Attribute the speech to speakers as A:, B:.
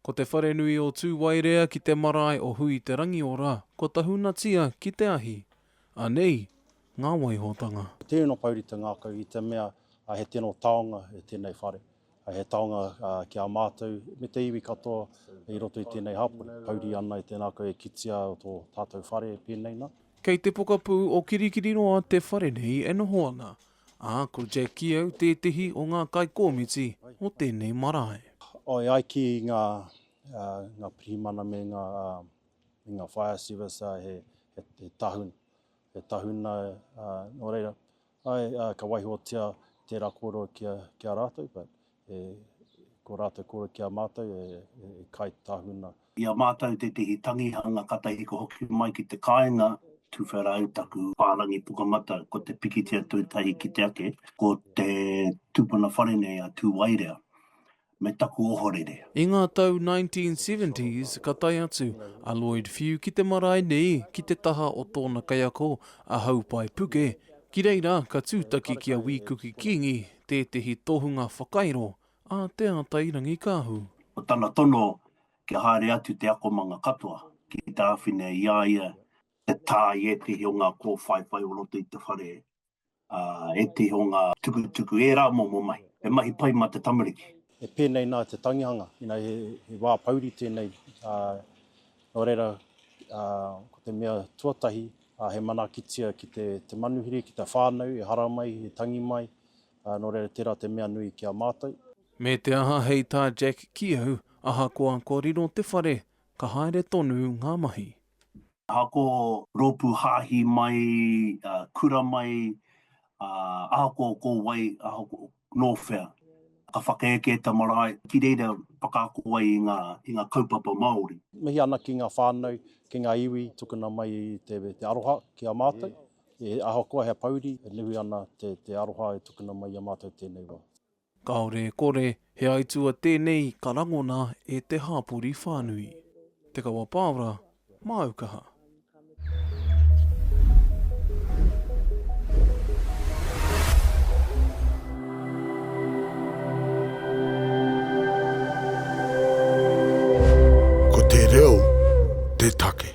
A: Ko te wharenui o Tūwairea ki te marae o Hui-te-Rangiora. Ko Tahunatia ki te ahi. Anei ngā waihotanga. He tino pouri te
B: ngākau i te mea he tino taonga tēnei whare, he taonga ki a mātou me te iwi katoa i roto i tēnei hapori. Pouri ana i te ngākau e kitea tō tātou whare pēnei nā. Kei te pokapū
A: o Kirikiriroa te whare nei e noho ana. Ā, ko Jack Keogh tētehi o ngā kaikōmiti o tēnei marae. I ai ki
B: ngā pirihimana me ngā fire service he tahuna, he tahuna nō reira, āe, ka waihotia tērā kōrero ki a rātou, but ko rātou kōrero ki a mātou e kai tahuna. I a mātou
C: tētehi tangihanga katahiko hoki mai ki te kāinga tuwhera ai taku whārangi pukamatau, ko te pikitia tuatahi ki te ake, ko te tupuna whare nei a Tūwairea, me taku ohorere. I ngā tau
A: 1970s ka tae atu a Lloyd Few ki te marae nei ki te taha o tōna kaiako a Haupai Puke, ki reira ka tūtaki ki a Wī Kuki Kīngi tētehi tohunga whakairo A Te Atairangikaahu. Ko tana tono
C: kia haere atu te akomanga katoa ki te āwhina i a ia te tā i ētehi o ngā kōwhaiwhai o roto i te whare, ā, ētehi o ngā tukutuku, ērā momo mahi. He mahi pai mā te tamariki. E pēnei nā te
B: tangihanga, inā he wā pouri tēnei, ā, nō reira, ā, ko te mea tuatahi, ā, he manaakitia ki te manuhiri, ki te whānau, ehara mai, he tangi mai, Ā, nō reira, tērā te mea nui ki a mātou. Me te aha
A: hei tā Jack ki au, ahakoa kua riro te whare, ka haere tonu ngā mahi. Ahakoa
C: rōpū hāhi mai, kura mai, ahakoa ko wai, ahakoa nō whea, ka whakaeke e te marae, ki reira whakaako ai i ngā kaupapa Māori. Mihi ana ki ngā
B: whānau, ki ngā iwi tukuna mai te aroha ki a mātou. He ahakoa hea pouri, e nui ana te, te aroha e tukuna mai i a mātou tēnei wā. Kāore e
A: kore, he aitua tēnei ka rangona e te hāpori whānui. Te Kawa Pāora, māu kaha. Ko te reo te take.